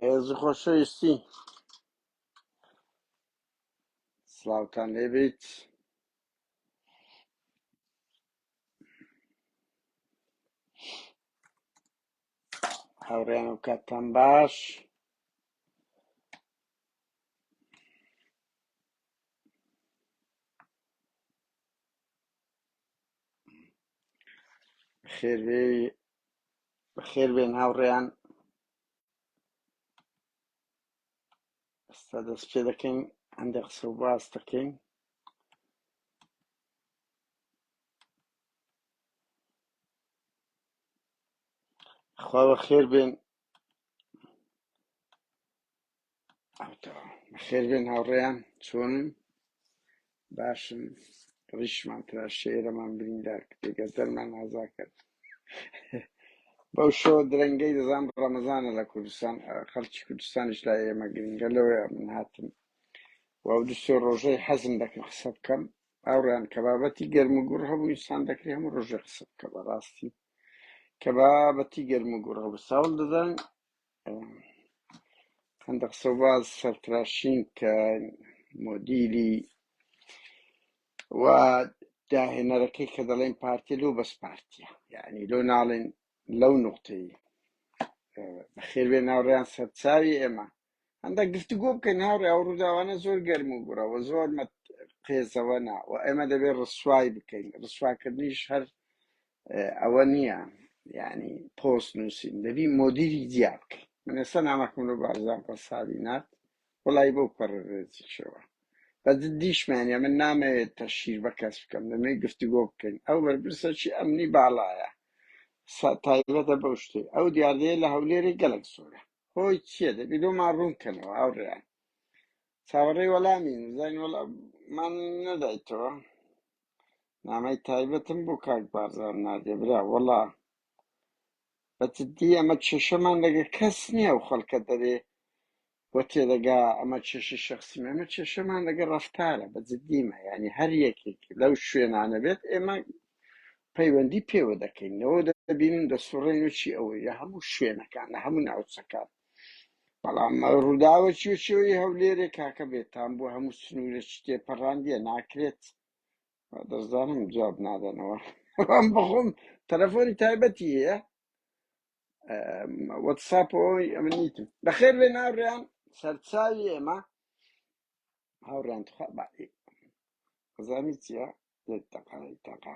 ڕێز و خۆشەویستی سلااوان لێبیت هاوڕێن و کاتان باش خێرێ بەخێر بێن هاوڕێیان ئێستا دەست پێ دەکەین هەندێک قسە و باس دەکەین خوا بەخێر بێن خێربێن هاوڕێیان چۆنن باشن ڕیشمان ترا شێرەمان بریندار کتێگە دەرمان ئازا کرد بەو شۆ درەنگەی دەزان ڕەمەزانە لە کوردستان خەڵکی کوردستانیش لا ئێمە گرنگە لەوەیە من هاتم و دوسێ ڕۆژەی حەزم دەکەم قسە بکەم ئاوڕیان کە بابەتی گەرم و گوڕ هەبوو ئینسان دەکرێ هەموو ڕۆژێ قسە بکە بەڕاستی کە بابەتی گەرم و گوڕ هەبوو ساڵ دەدەن هەندە قسە باز سەرتراشین کە مۆدیلی و داهێنەرەکەی کە دەڵێن پارتی لەو بەس پارتیە یعنی لۆ ناڵێن لەو نقطەی بەخێربێ ناوڕیان سەرچاوی ئێمە هەندە گفتگۆ بکەین هاوڕێ ئەو ڕووداوانە زۆر گەرم و گوڕەوە زۆر قێزەوەنا و ئێمە دەبێت ڕسوای بکەین ڕسواکردنیش هەر ئەوە نییە یعنی پۆست نووسین دەبی مۆدیری جیا بکەین من ئێستا نامەکەم لە بارزان قەسابی نارد وڵی بۆ پەڕێزیشەوە بە جدیشمان یا من نامەوێت تەشیر بە کەس بکەم دەمێ گفتوگۆ بکەین ئەو بەرپرسەکی ئەمنی باڵایە سا- تایبەتە بەو شتێ ئەو دیاردەیە لە هەولێری گەلک زۆرە هۆی چییە دەبی لۆمان ڕوونکەنەوە هاوڕێیان چاوەڕێی وەڵامین زین وەڵاممان نەدایتەوە نامەی تایبەتم بۆ کاک بارزان نادێ برا وەڵا بە جدی ئەمە کێشەمان لەگە کەس نییە و خەڵکە دەرێ و تێدەگا ئەمە کێشی شخصیمە ئەمە کێشەمان لەگە ڕفتارە بە جدیمە ینی هەر یەکێک لەو شوێنانە بێت ئێمە پەیوەندی پێوە دەکەین لەوە دەبینن دەسوڕێن و چی ئەوەیە هەموو شوێنەکان لە هەموو ناوچەکان بەڵام ڕووداوە چوچۆی هەولێرێ کاکە بێتان بۆ هەموو سنوورە چ تێپەڕاندیە ناکرێت و دەزانم جواب نادەنەوە ئەم بەخۆم تەلەفۆنی تایبەتی هەیە ئەم، واتساپ ئەوەی ئەمە نیتم بەخێر بێ ناوڕیان سەرچاوی ئێمە هاوڕیان تخوا بەعی خزانی چیە لێت تەقای تەقا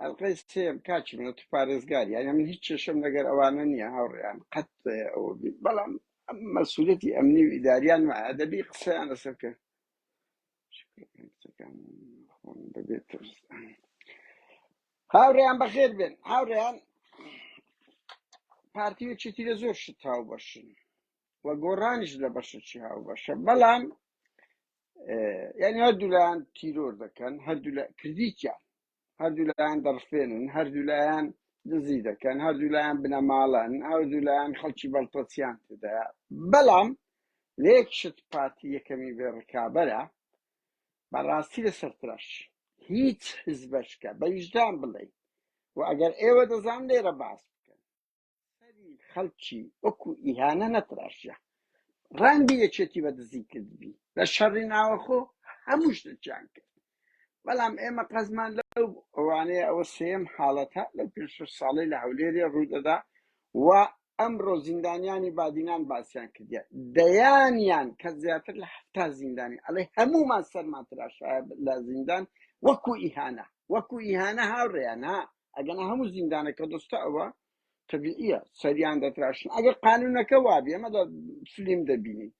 ئەڵقەی سێم کاکی من تو پارێزگاری یعنی من هیچ کێشەم لەگەر ئەوانە نییە هاوڕێیان قەت اه، ئەوە بی- بەڵام ئەم مەسوولەتی ئەمنی و ئیداریان وایە دەبی قسەیان لەسەر بکە قسەکان خۆم دەبێت ترس. هاوڕێیان بەخێر بێن هاوڕێیان پارتی و چیتی لە زۆر شت هاوبەشن و گۆڕانیش لە بەشەکی هاوبەشە بەڵام یعنی هەردوولایان تیرۆر دەکەن هەردوو لە کردیان هەردوولایان دەڕفێنن هەردوولایان دزی دەکەن هەردوولایان بنەماڵەن هەردوولایان خەڵکی بەڵپەچیان تدا بەڵام لێک شت پارتی یەکەمی بێ ڕکابەرە بەڕاستی لە سەرتراش هیچ حزبەشکە بە ویژدان بڵێ و ئەگەر ئێوە دەزان لێرە باس بکەن سەری خەڵکی وەکو ئیهانە نەتراشیە ڕاندی یەکێتی بە دزی کردبی لە شەڕی ناوەخۆ هەموو شتێکیان کرد بەڵام ئێمە قەزمان لەو ئەوانەیە ئەوە سێم حاڵەتە لەو پێ شش ساڵەی لە هەولێرێ ڕوودەدا و ئەمڕۆ زیندانیانی بادینان باسیان کردە دەیانیان کە زیاتر لە هەفتا زیندانی ئەڵێ هەمومان سەرمان تراشایە لە زیندان وەکو ئیهانە وەکو ئیهانە هاوڕێیان ها ئەگەنا هەموو زیندانەکە دەستە ئەوە تەبیعیە سەریان دەتراشن ئەگەر قانونەکە وابێ ئەمە لە فلیم دەبینین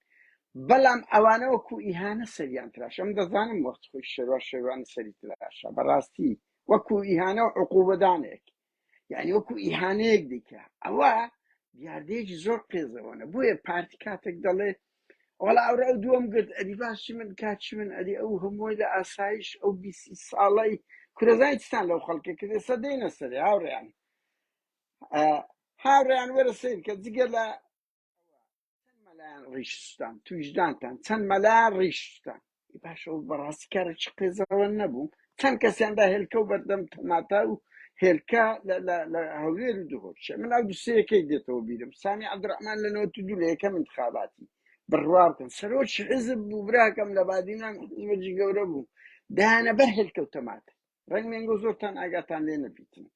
بەڵام ئەوانەوە کو ئیهانە سەریان تراش ئەم دەزانم وەخت خۆی شێوا شێوان سەری تراشە بەڕاستی وەکو ئیهانە و عقوبەدانێک یعنی وەکو ئیهانەیەک دیکە ئەوە دیاردەیەکی زۆر قێزەوەە بۆیە پارتی کاتێک دەڵێت وەڵا ئەوڕۆ ئەو دووەم گرت ئەدی باشی من کاکی من ئەدی ئەو هەمووی لە ئاسایش ئەو بیسی ساڵی کورەزای چستان لەو خەڵکە کرد ئێستا دێنە سەرێ هاوڕێیان آه، هاوڕێیان وەرە سیر کە جگە لە چەند مەلایان ڕیش سوتان تویشدانتان چەند مەلایان ڕیش سوتان ای باشە و بەڕاستی کارە چ قێزەوە نەبوو چەند کەسیان دا هێلکە و بەردەم تەماتا و هێلکە لە لە لە هەولێر و دهۆشە من ئەو دوسەیەکەی دێتەوە بیرم سامی عبدڕحمان لە نەوەت و دوو لە یەکەم انتخاباتی بڕوا بکەن سەرۆکی حزب بوو براکەم لە بادینان حزبەجی گەورە بوو دایانە بەر هێلکە و تەماتە ڕەنگ مێنگۆ زۆرتان ئاگاتان لێ نەبیتن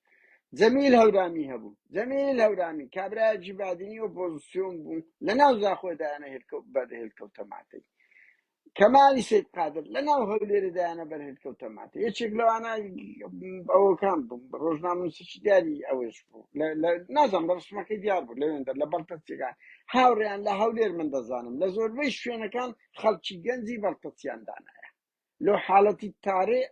جەمیل هەورامی هەبوو جەمیل هەورامی کابراجی بادینی ئۆپۆزیسیۆن بوو لە ناو زاخۆدایانە هێلکەوت بەر هێلکەوتە ماتەی کەمالی سید قادر لە ناو هەولێرەدایانە بەر هێلکەوتە ماتە یەکێک لەوانە ئەوەکان بووم ڕۆژناموسیی دیاری ئەوەش بوو نازانم لە ڕسمەکەی دیار بوو لەوێندەر لە بەڵتەچەکان هاوڕیان لە هەولێر من دەزانم لە زۆربەی شوێنەکان خەڵکی گەنجی بەڵتەچیان دانایە لەو حالەتی تارێ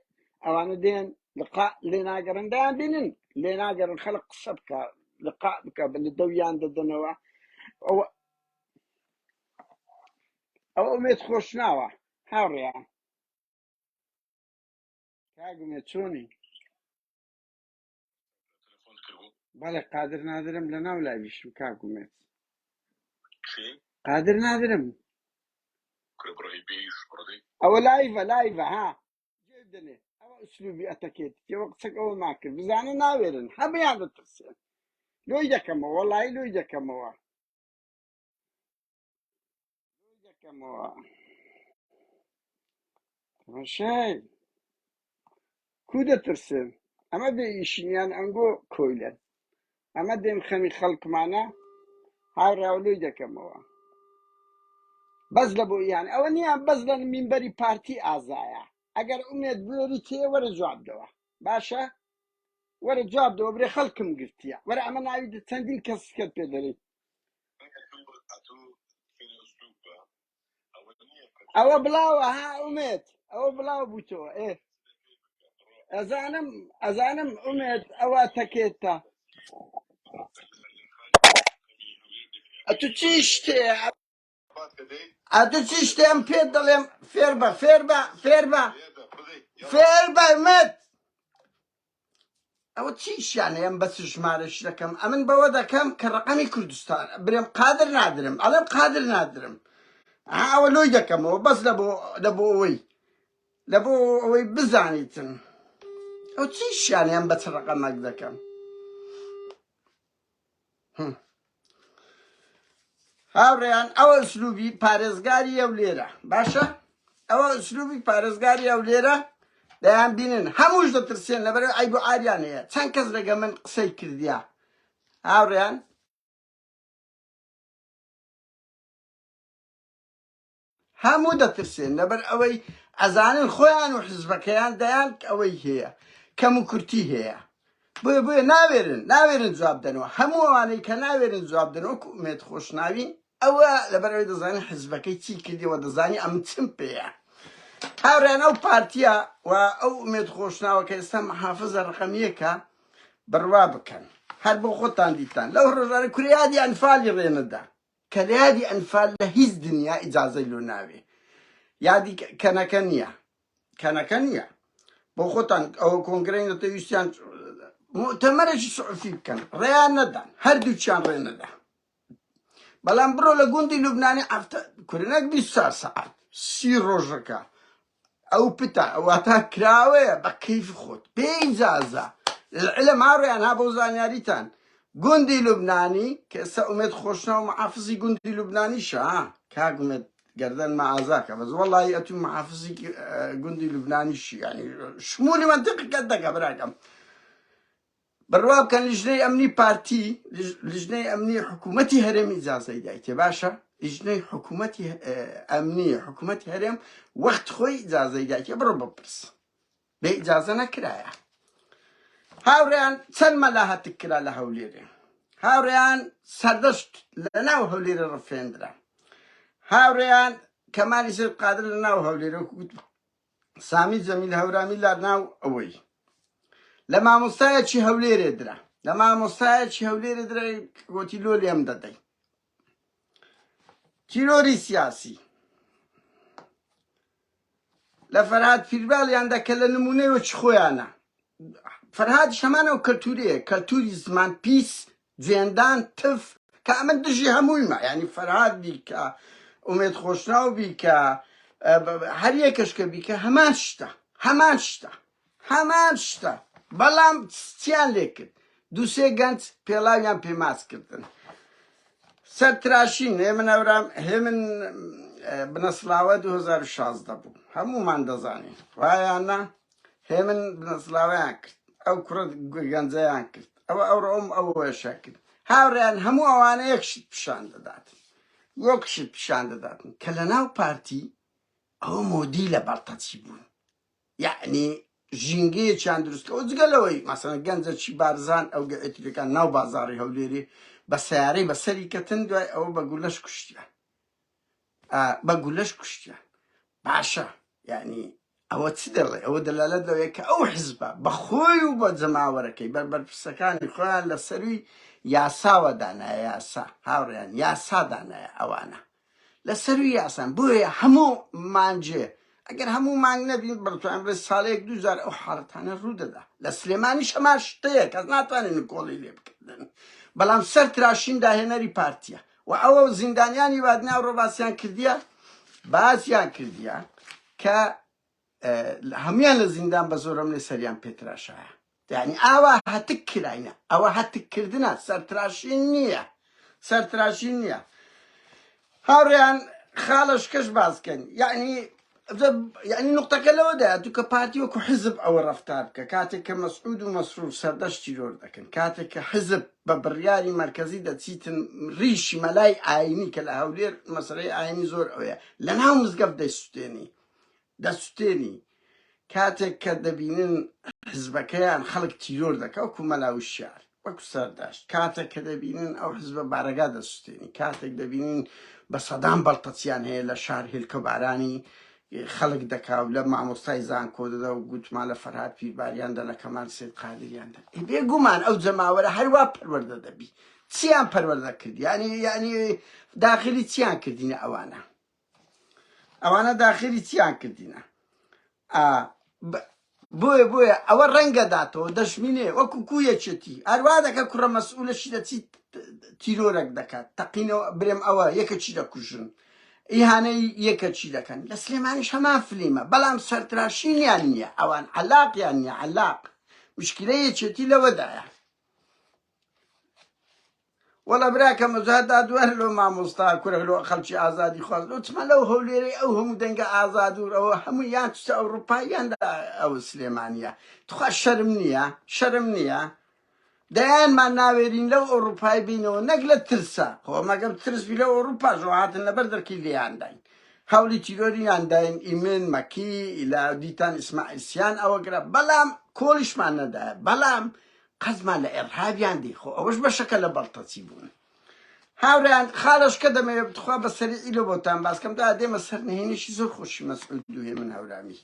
ئەوانە دێن لقاء لێ ناگەڕن دایان بینن لێ ناگەڕن خەلق قسە بکە لقاء بکە بە دەویان دەدەنەوە ئەوە ئەو ئومێت خۆش ناوە هاوڕێیان کاگومێت چۆنی بەڵێ قادر نادرم لە ناو لاویشم کاکومێت قادر نادرم ئەوە لایڤە لایڤە ها دەنێ ئەوە ئسلوبی ئەتەکێت تێوە قسەک ئەوە ماکرد بزانە ناوێرن هەمیان دەترسێن لۆی دەکەمەوە لای لۆی دەکەمەوە شای کو دەترسن ئەمە بێ ئیشنیان ئەنگۆ کۆیلەن ئەمە دێم خەمی خەڵکمانە هاوراولۆی دەکەمەوە بەس لە بۆ یان ئەوە نیان بەس لە مینبەری پارتی ئازایە ئەگەر ئومێت بێری تێ وەرە جواب دەوە باشە وەرە جواب دەوە برێ خەڵکم گرتیە وەرە ئەمە ناوی چەندین کەس کە پێ دەێت ئەوە بڵاوە ها ئومێد ئەوە بڵاو بوو تۆ ئێ ئەزانم ئەزانم ئومێد ئەوە تەکێتە ئەتو چی شتێ ئەتو چی شتێم پێت دەڵێم فێر بە فێر بە فێر بە فێر بە مت ئەوە چی شیانەیەم بە چ ژمارەش دەکەم ئەمن بەوە دەکەم کە ڕقەمی کوردستان برێم قادر نادرم ئەڵێم قادر نادرم ئەوە لۆی دەکەمەوە بەس لە بۆ لە بۆ ئەوەی لە بۆ ئەوەی بزانیتن ئەو چی شیانیان بە چ ڕقەمەک دەکەم هاوڕێیان ئەوە ئسلوبی پارێزگاری ئەو لێرە باشە ئەوە ئسلوبی پارێزگاری ئەو لێرە دەیان بینن هەمووش دەترسێن لەبەر ئایب و ئاریان هەیە چەند کەس لەگە من قسەی کردیا هاوڕێیان هەموو دەترسێن لەبەر ئەوەی ئەزانن خۆیان و حزبەکەیان دەیان ئەوەی هەیە کەم و کورتی هەیە بۆیە بۆیە ناوێرن ناوێرن جواب دەنەوە هەموو ئەوانەی کە ناوێرن جواب دەنەوە کومێت خۆشناوین ئەوە لەبەر ئەوەی دەزانین حزبەکەی چی کردیەوە دەزانی ئەم چم پێەیە هاوران ئەو پارتیا و ئەو ئومێت خۆشناوە کە ئێستا محافزە ڕقەمیەکە بڕوا بکەن هەر بۆ خۆتان دیتان لەو ڕۆژانە کوریادیان فالی ڕێنەدا کە لە یادی ئەنفال لە هیچ دنیا ئیجازەی لۆ ناوێ یادی کەنەکە نیە کەنەکە نیە بۆ خۆتان ئەوە کۆنگرەی نەتە ویستیان مؤتەمەرێکی سعفی بکەن ڕێیان نەدان هەردووچیان ڕێ نەدا بەڵام بڕۆ لە گوندی لوبنانی ئەفتە کورنەک بیست چار سەعات سی ڕۆژەکە ئەو پتە واتا کراوەیە بە کەیف خۆت بێ ئیجازە لەلعلە ماڕیان ها بۆ زانیاریتان گوندی لوبنانی کە ئێستا ئومێد خۆشنا و محافزی گوندی لوبنانی شا کاک ئومێد گردن مە ئازاکە بەس وەڵی ئەتوو محافزی گوندی لوبنانی شیانی شمولی منتیقەکەت دەکە براکەم بڕوا بکەن لیژنەی ئەمنی پارتی لیژنەی ئەمنی حکوومەتی هەرێمی جازای دایتێ باشە لیژنەی حکوومەتی ئەمنی حکوومەت هەرێم وەخت خۆی جازای دایتێ بڕۆ بپرس بێ ئجازە نەکرایە هاوڕیان چەند مەلا هەتک کرا لە هەولێرێ هاوڕیان سەردەشت لە ناو هەولێرە ڕفێندرا هاوڕیان کەمالی سەر قادر لە ناو هەولێرە سامی جەمیل هەورامی لا ناو ئەوەی لە مامۆستایەکی هەولێرێ درا لە مامۆستایەکی هەولێرێ درا گۆتی لۆ لێم دەدەی تیرۆری سیاسی لە فەرهاد پیرباڵیاندا کە لە نمونەوە چ خۆیانە فەرهاد شەمانەوە کەلتوریە کەلتوری زمان پیس جێندان تف کا من دژی هەموویمە یعنی فەرهاد بیکە ئومێد خۆشناو بیکە هەر یەکەش کە بیکە هەمان شتە هەمان شتە هەمان شتە بەڵام چیان لێ کرد دووسێ گەنج پێڵاویان پێماس کردن سەر تراشین هێ من ئەورام هێ من بنەسلاوە 2016 بوو هەمومان دەزانین وایانە هێمن بنەسڵاویان کرد ئەو کوڕە گەنجەیان کرد ئەوە ئەو ڕۆم ئەو وێشە کرد هاوڕیان هەموو ئەوانە یەک شت پیشان دەدات یەک شت پیشان دەداتن کە لە ناو پارتی ئەو مۆدی لە بەرتەچی بوون یعنی ژینگەیەکیان دروستکەەوە جگە لەوەی مەسەن گەنجە چی بارزان ئەو گەئترەکان ناو بازاری هەولێری بە سیارەی بەسەری کەتن دوای ئەوە بە گولەش کوشتیان بە گولەش کوشتیان باشە یانی ئەوە چ دەڵێ ئەوە دەلالەت لەوەیە کە ئەو حزبە بەخۆی و بە جەماوەرەکەی بەربەرپرسەکانی خۆیان لە سەروی یاساوە دانایە یاسا هاوڕیان یاسا دانایە ئەوانە لە سەروی یاسان بۆیە هەموو مانجێ ئەگەر هەموو مانگ نەبین بڕتوان بڵێ ساڵەیەک دوجار ئەو حاڵەتانە ڕوودەدا لە سلێمانی شەماش شتەیە کەس ناتوانێت نکۆڵی لێ بکردن بەڵام سەر تراشین داهێنەری پارتیە وە ئەوە زیندانیانی وادناو ڕۆباسیان کردیە باسیان کردیە کە هەموان لە زیندان بە زۆرەملێ سەریان پێتراشایە یعنی ئاوا هەتک کراینە ئەوە هەتککردە سەرتراشی نییە سەرتراشی نییە هاوڕیان خاڵش کەش باسکەن یعنی ئەجا یعنی نقطەکە لەوەدایە دوو کە پارتی وەکو حزب ئەوە ڕفتار بکە کاتێک کە مەسعود و مەسرور سەردەشت تیرۆر دەکەن کاتێک کە حزب بە بڕیاری مرکزی دەچیتن ریشی مەلای ئاینی کە لە هەولێر مەسلەی ئاینی زۆر ئەوەیە لە ناو مزگەفت دەسوتێنی دەسوتێنی کاتێک کە دەبینن حزبەکەیان خەڵک تیرۆر دەکا وەکو مەلا وشیار وەکو سەرداشت کاتێک کە دەبینن ئەو حزبە بارەگا دەسوستێنی کاتێک دەبینین بە سەدان بەڵتەچیان هەیە لە شار هێلکە بارانی خەڵک دەکا و لە مامۆستای زانکۆ دەدا و گوتمان لە فەرهاد پیرباریان دە لە کەمان سید قادریان دە ئێ بێگومان ئەو جەماوەرە هەروا پەروەردە دەبی چیان پەروەردە کرد یانی یانی داخلی چیان کردینە ئەوانە ئەوانە داخیری چیان کردینە ئا بۆیە بۆیە ئەوە ڕەنگە داتەوە دەشمینێ وەکو کو یەکێتی ئەروا دەکە کوڕە مەسئولەشی دەچیت تیرۆرەک دەکات تەقینەوە برێم ئەوە یەکە چی دەکوژن ئیهانەی یەکە چی دەکەن لە سلێمانیش هەمان فلیمە بەڵام سەرتراشینیان نییە ئەوان علاقیان نیە علاق مشکلە یەکێتی لەوەدایە وەڵا براکەم ئەجا دادوەر لۆ مامۆستا کورە لۆ خەڵکی ئازادی خواز لۆ چما لەو هەولێرەی ئەو هەموو دەنگە ئازادور ئەوە هەموو یان چتە ئەوروپا یان ئەو سلێمانیە تخوا شەرم نییە شەرم نییە دەیانمان ناوێرین لەو ئەوروپای بینەوە نەک لە ترسە خۆ مەگەم ترسبی لەو ئەوروپا ژۆهاتن لەبەر دەرکی لێیانداین هەولی تیرۆریان داین ئیمن مەکی ئیلا دیتان ئیسماعیسیان ئەوە گرە بەڵام کۆلیشمان نەدایە بەڵام قەزمان لە ئێڕهابیان دی خۆ ئەوەش بەشەکە لە بەڵتەچی بوون هاورێیان خالەش کە دەمەوێت بتخوا بە سەریعی لۆ بۆتان باسکەم دا دێمە سەر نهێنیشی زۆر خۆشی مەسعود دوێ من هەورامی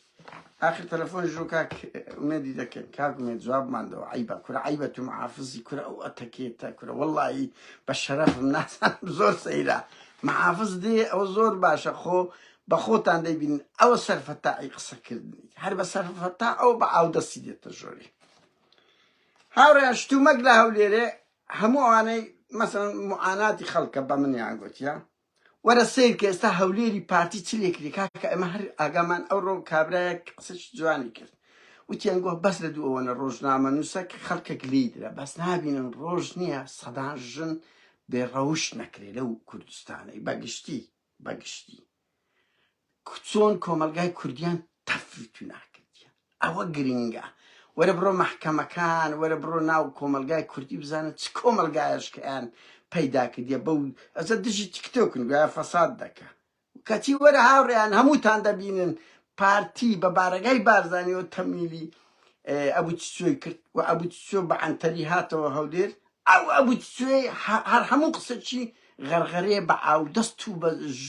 آخر تەلەفۆن ژۆ کاک ئومێدی دەکەن کاک ئومێد جوابماندەوە عیبە کورە عیبە تو محافظی کورە ئەو ئەتەکێتە کورە وەڵایی بە شەرەفم ناسان زۆر سەیرە محافظ دێ ئەو زۆر باشە خۆ بە خۆتان دەیبین ئەوە سەرفەتاعی قسەکردنی هەر بە سەرفەتا ئەو بە ئاودەستی دێتە ژۆری هاوڕێیان شتومەک لە هەولێرێ هەموو ئەوانەی مەسەن معاناتی خەڵکە بە منیان گوتیە وەرە سیر کە ئێستا هەولێری پارتی چ لێکری کاکە ئەمە هەر ئاگامان ئەو ڕۆ کابراە قسەش جوانی کرد وتیان گوه بەس لە دوو ئەوەنە ڕۆژنامە نووسەک خەڵکێک لی درە بەس نابینن ڕۆژ نییە سەدان ژن بێڕەوش نەکرێ لەو کوردستانەی بەگشتی بەگشتی چۆن کۆمەلگای کوردیان تەفروتو ناکردیان ئەوە گرنگە وەرە بڕۆ مەحکەمەکان وەرە بڕۆ ناو کۆمەلگای کوردی بزانە چ کۆمەلگایشکەیان پەیدا کردە بەو ئەزە دژی تیکتۆکن گویا فەساد دەکە کەچی وەرە هاوڕێیان هەمووتان دەبینن پارتی بە بارەگای بارزانانی و تەمیلی ئەبوو چۆی کرد و ئەبوو چۆ بە ئەنتەری هاتەوە هەولێر ئەو ئەبو تچوێ هەر هەموو قسەچی غەرغەرێ بە ئاو دەست توو بە ژ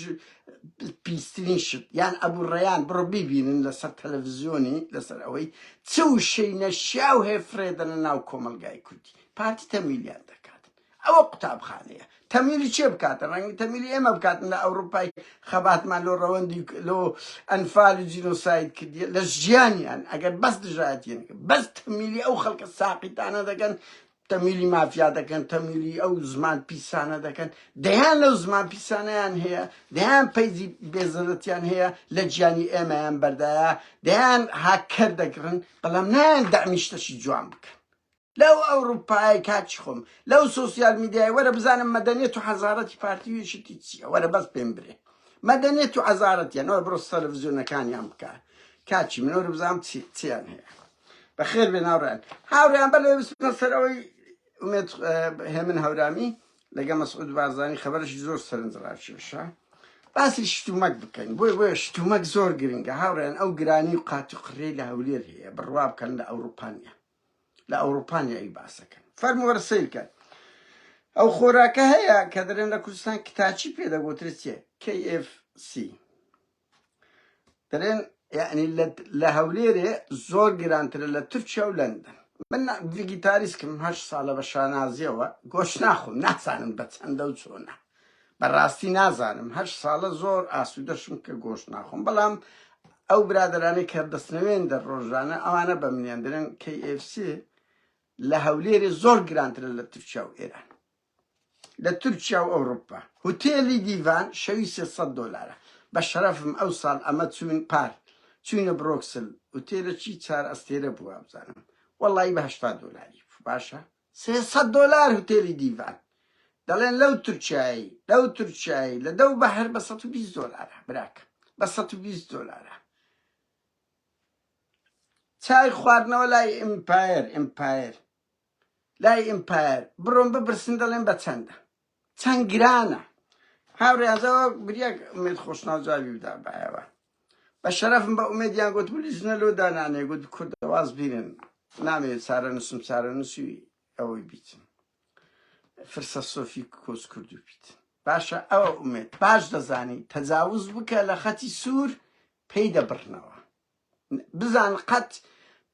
پیسترین شت یان ئەبو ڕەیان بڕۆ بیبینن لە سەر تەلەفزیۆنی لە سەر ئەوەی چ وشەی نەشیاو هەیە فرێ دەنە ناو کۆمەڵگای کوردی پارتی تەمویلیان دەکات ئەوە قوتابخانەیە تەمویلی چێ بکاتە ڕەنگی تەمویلی ئێمە بکاتن لە ئەوروپای خەباتمان لۆ ڕەوەندی لۆ ئەنفال و جینۆساید کردیە لە ژیانیان ئەگەر بەس دژایەتیان بەس تەمویلی ئەو خەڵکە ساقیتانە دەکەن تەمویلی مافیا دەکەن تەمویلی ئەو زمان پیسانە دەکەن دەیان لەو زمان پیسانیان هەیە دەیان پەیجی بێزەرەتیان هەیە لە گیانی ئێمەیان بەردایە دەیان هاکەر دەگرن بەڵام نایان دامیشتەشی جوان بکەن لەو ئەوروپای کاچی خۆم لەو سوسیال میدیای وەرە بزانم مەدەنێت و حەزارەتی پارتیویشتی چیە وەرە بەس پێم برێ مەدەنێت و عزارەتیان ئەوە بڕۆ سەلڤزیۆنەکانیان بکە کاچی منۆرە بزانام چیان هەیە بەخێر بێن هاوڕیان هاوریان بە لێ بسنە سەر ئەوەی ئومێت هێمن هەورامی لەگە مەسعود بارزانانی خەبەرشی زۆر سەرنجڕاکێشە باسی شتومەک بکەین بۆی بۆیە شتومەک زۆر گرنگە هاوڕێن ئەو گرانی و قات و قڕێ لە هەولێر هەیە بڕوا بکەن لە ئەوروپانیا لە ئەوروپانیا ئی باسەکەن فەرموەرە سیرکەن ئەو خۆراکە هەیە کە دەرێن لە کوردستان کتاچی پێدەگوترێت چێ KFC دەڵێن یعنی لە هەولێرێ زۆر گرانترە لە تورکیا و لەندەن من ڤگیتاریسکم هەش ساڵە بە شانازیەوە گۆش ناخۆم نازانم بە چەندە و چۆنە بەڕاستی نازانم هەش ساڵە زۆر ئاسوودەشم کە گۆش ناخۆم بەڵام ئەو برادرانی کە دەستنەوێن دە ڕۆژانە ئەوانە بە منێندرن KFC لە هەولێرێ زۆر گرانترە لە تورکیا و ئێران لە تورکیا و ئەوڕوپا. هوتێلی دیڤان شەوی سێ سەد دۆلارە. بە شەرەفم ئەو ساڵ ئەمە چووین پار چووینە برۆکسل هوتێلەکی چار ئەستێرە بوو وابزانم وەڵایی بە هەشتا دۆلاری بوو باشە سێ سەد دۆلار هوتێلی دیڤان دەڵێن لەو تورکیایی لەو تورکیایی لە دەو بەهر بە سەد و بیست دۆلارە براکە بە سەد و بیست دۆلارە چای خواردنەوە لای ئیمپایر ئیمپایر لای ئیمپایەر بڕۆن بپرسن دەڵێن بە چەندە چەند گرانە هاوڕێزەوە بریاک ئومێد خۆشناو جوابی بدا بایەوە بە شەرەفم بە ئومێدیان گوت بلی ژنە لۆ دانانێ گوت کوردەواز بینن نامەوێت چارە نووسم چارە نووسی ئەوەی بیتن فرسە سۆفی کۆس کرد و بیت باشە ئەوە ئومێت باش دەزانی تەجاوز بکە لە خەتی سوور پێی دەبڕنەوە بزان قەت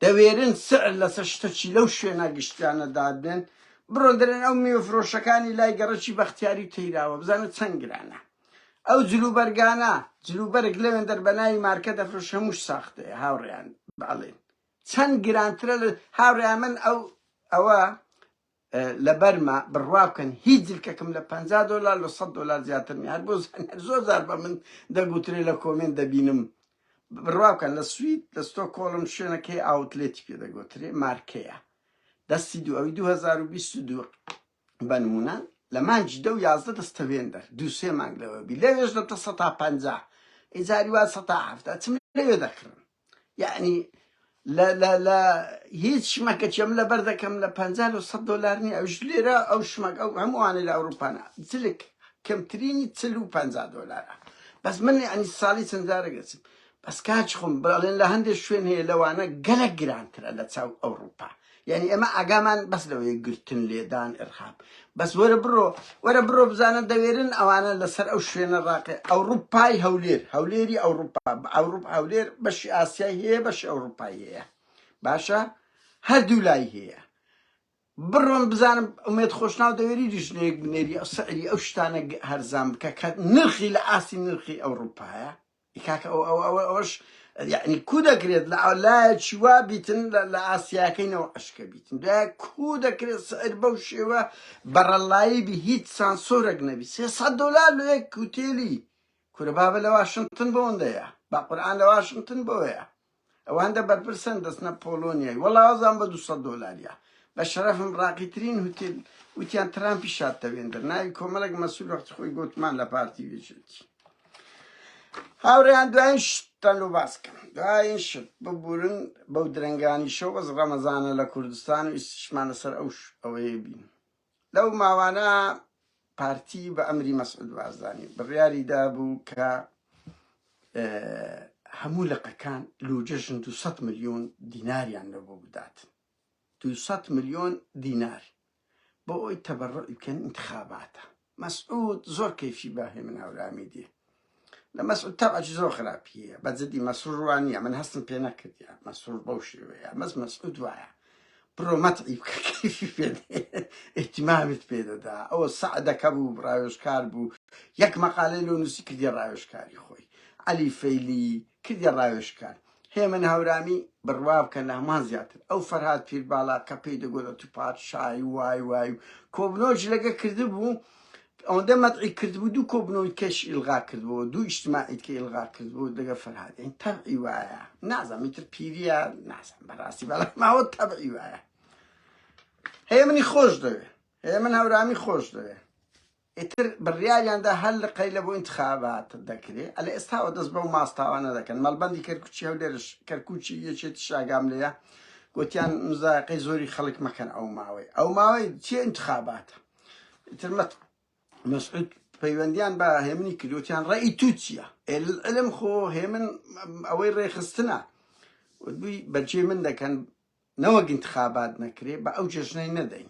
دەوێرن سعر لەسەر شتە چی لەو شوێنە گشتیانە دادنێن بڕۆ دەرێن ئەو میوە فرۆشەکانی لای گەڕەکی بەختیاری و تەیراوە بزانە چەند گرانە ئەو جلوبەرگانە جلوبەرگ لەوێن دەربەناوی مارکە دەفرۆش هەمووش ساختەیە هاوڕێیان بەڵێن چەند گرانترە لە هاوڕێیان من ئەو ئەوە لەبەرمە بڕوا بکەن هیچ جلکەکم لە پەنجا دۆلار لە سەد دۆلار زیاتر نیە هەر بۆ زانیار زۆر جار بە من دەگوترێ لە کۆمێنت دەبینم بڕوا بکەن لە سوید لە ستۆکۆڵم شوێنەکەی ئاوتلێتی پێ دەگوترێ مارکەیە دەستی دوو ئەوی 2022 بە نمونە لە مانجی دە و یازدە دەستەوێندەر دوو سێ مانگ لەوە بی لەوێش دەتە سە تا پەنجا ئیجاری وا سە تا هەفتە چم لەوێ دەکڕم یەعنی لە لە لە هیچ شمەکە چێم لە بەر دەکەم لە پەنجا لە سەد دۆلار نییە ئەوش لێرە ئەو شمەک ئەو هەمووانە لە ئەوروپانە جلک کەمترینی چل و پەنجا دۆلارە بەس من یعنی ساڵی چەند جارە گەچم بەس کاچ خۆم بەڵێن لە هەندێک شوێن هەیە لەوانە گەلە گرانترە لە چاو ئەوروپا یعنی ئەمە ئاگامان بەس لەوەیە گرتن لێدان ئرخاب بەس وەرە بڕۆ وەرە بڕۆ بزانە دەوێرن ئەوانە لەسەر ئەو شوێنە ڕاقێ ئەوروپای هەولێر هەولێری ئەوروپا ئەوروپ هەولێر بەشی ئاسیای هەیە بەش ئەوروپای هەیە باشە هەردوو لای هەیە بڕۆم بزانم ئومێت خۆشناو دەوێری دیژنێک بنێری ئەو سەری ئەو شتانە هەرزان بکە کە نرخی لە ئاستی نرخی ئەوروپایە ئی کاکە ئەوە ئەوە ئەوە ئەوەش یەعنی کو دەکرێت لە ئەو لایەکی وا بیتن لە لە ئاسیاکەی نەوە ئەشکە بیتن دوای کو دەکرێت سعر بەو شێوە بەڕەلایی بی هیچ سانسۆرەک نەبی سێ سەد دۆلار لۆ یەک کوتێلی کورە بابە لە واشنتن بۆ ئەوەندەیە با قورئان لە واشنتن بۆیە ئەوان دە بەرپرسن دەچنە پۆڵۆنیای وەڵا ئەزان بە دوو سەد دۆلاریە بە شەرەفم ڕاقیترین هوتێل وتیان ترامپی شاد تەوێندر ناوی کۆمەڵێک مەسول وەختی خۆی گوتمان لە پارتی وێچێتی هاوڕێیان دوایین شتان لۆ باس کەم دوایین شت ببورن بەو درەنگانی شەو بەس ڕەمەزانە لە کوردستان و ئیسیشمانە سەر ئەو ئەوەیە بین لەو ماوانە پارتی بە ئەمری مەسعود بارزانی بڕیاری دابوو کە هەموو لقەکان لوجەژن 200 میلیۆن دیناریان لە بۆ بدات 200 میلیۆن دینار بۆ ئەوی تەبەڕ بکەن انتخاباتە مەسعود زۆر کەیفی بە هێمن هەورامی دی لە مەسعود تەبعەکی زۆر خراپیە بە جدی مەسرور وان نییە من هەستم پێ نەکردە مەسرور بەو شێوەیە مەس مەسعود وایە بڕۆ مەتعی بکە کەیفی پێ ئیتیمامیت پێ دەدا ئەوە سەعدەکە بوو ڕاوێژکار بوو یەک مەقالەی لۆ نووسی کردی ڕاوێژکاری خۆی عەلی فەیلی کردیە ڕاوێژکار. هێمن هەورامی، بڕوابکە لە هەموان زیاتر ئەو فەرهاد پیرباڵا کە پێی دەگۆت ئەتوو پادشای وای وای و کۆبنەوە جلەکە کردبوو ئەوەندە مەدحی کردبوو دوو کۆبنەوەی کەش ئیلغا کردبوو دوو ئیجتماعیت کە ئیلغا کردبوو دەگە فەرهاد یانی تەبعی وایە نازانم ئیتر پیریە نازانم بەڕاستی بەڵام ماوە تەبعی وایە هەیە منی خۆش دەوێ هەیە من هەورامی خۆش دەوێ ئیتر بڕیاریان دا هەر لقەی لە بۆ ئینتخابات دەکرێ، ئەلە ئێستاوە دەست بەو ماستاوانە دەکەن، مەڵبەندی کەرکوچی هەولێرش، کەرکوچی یەکێتیش ئاگام لێیە، گۆتیان مزایەقەی زۆری خەڵک مەکەن ئەو ماوەی، ئەو ماوەی چی ئینتخاباتە؟ ئیتر مە مەسعود پەیوەندیان بە هێمنی کرد وتیان ڕێی تو چییە؟ ئێ للعلم خۆ هێمن ئەوەی ڕێخستنە، وتبووی بەجێی من دەکەن، نەوەک ئینتخابات نەکرێ بە ئەو جەژنەی نەدەین.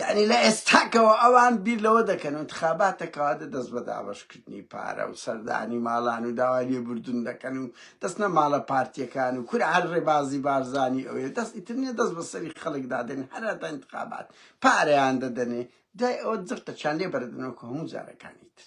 یانی لە ئێستاکەوە ئەوان بیر لەوە دەکەن و انتخاباتەکەوا دە دەست بە دابەشکردنی پارە و سەردانی ماڵان و داوای لێ بردون دەکەن و دەستنە ماڵە پارتیەکان و کورە هەر ڕێبازی بارزانی ئەوێ دەست ئیتر نیە دەست بە سەری خەڵک دادێن هەراتا انتخابات پارەیان دەدەنێ دوای ئەوە جڕتەچیان لێ بەردنەوە کە هەموو جارەکانی تر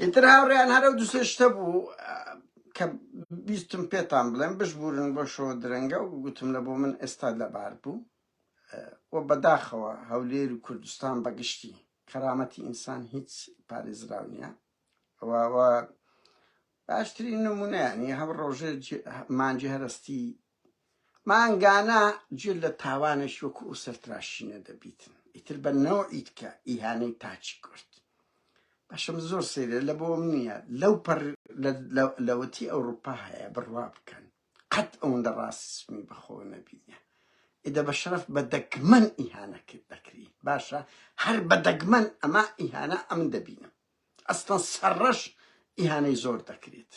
ئیتر هاوڕێیان هەر ئەو دوو سێ شتە بوو کە بیستم پێتان بڵێم بشبورن بۆ شەوە درەنگە و گوتم لە بۆ من ئێستا لەبار بوو و بەداخەوە هەولێر و کوردستان بەگشتی کەرامەتی ئینسان هیچ پارێزراو نییە و باشترین نمونەیانی هەم ڕۆژێ مانجی هەرستی مانگانە جل لە تاوانێش وەکو ئو سەرتراشینە دەبیتن ئیتر بە نەوعی دکە ئیهانەی تاچی کورد باشم زۆر سەیرە لە بۆم نییە لەو پەر لەوەتی ئەوروپا هەیە بڕوا بکەن قەت ئەوەندە ڕاستسمی بەخۆ نەبینە ئێدە بە شەرف بە دەگمەن ئیهانە کرد دەکری باشە هەر بە دەگمەن ئەما ئیهانە ئەم دەبینم ئەستان سەرڕەش ئیهانەی زۆر دەکرێت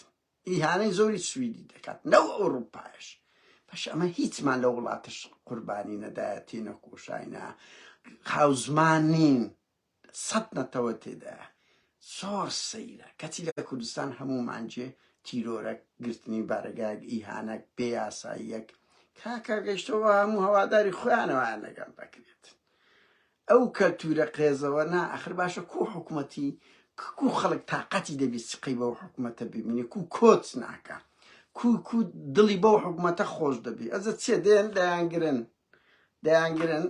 ئیهانەی زۆری سویدی دەکات نەو ئەوروپایش بەش ئەمە هیچمان لە وڵاتش قوربانی نەدایەتی نەکۆشاینا خاوزمان نین سەد نەتەوە تێدا زۆر سەیرە کەچی لە کوردستان هەموو مانجێ تیرۆرە گرتنی بارەگایەک ئیهانەک بێ یاساییەک کاکە گەشتەوە هەموو هەواداری خۆیانەوەیان لەگەڵ دەکرێت ئەو کەلتورە قێزەوە نا ئەخر باشە کو حکومەتی کو خەڵک تاقەتی دەبی سقەی بەو حکومەتە ببینی کو کۆچ ناکە کو کو دڵی بەو حکومەتە خۆش دەبی ئەزە چێ دێن دەیانگرن دەیانگرن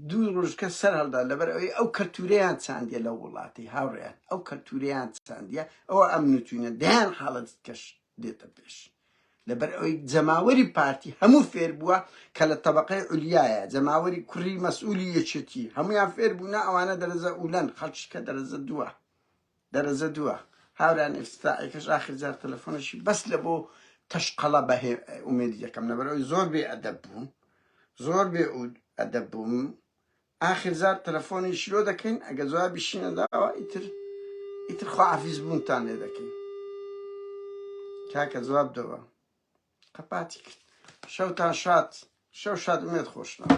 دوو ڕژکە سەر هەڵدا لەبەر ئەوی ئەو کەلتوریان چاندە لە وڵاتی هاوڕێن ئەو کەلتوریان چاندە ئەو ئەم نووتوینە دەیان حاڵەت کەش دێتە پێش لەبەر ئەوەی جەماوەری پارتی هەموو فێر بووە کە لە تەبەقەی عولیایە جەماوەری کوڕی مەسئولی یەکێتی هەمویان فێر بوونە ئەوانە دەرەزە ئولەن خەڵکی کە دەرەزە دووە دەرەزە دووە هاوران ئێستائەکەش ئاخر جار تەلەفۆنەشی بەس لە بۆ تەشقەڵە بە ئومێدی دەکەم لەبەرەوەی زۆر بێ ئەدەب بوو زۆر بێ ئەدەب بووم ئاخر جار تەلەفۆنی شلۆ دەکەین ئەگە جوابیشی نەداوە ئیتر ئیتر خواحافیز بوونتان لێ دەکەین کاکە جواب دەوە قەپاتی کرد شەوتان شاد شەو شاد ئومێد خۆشنەوە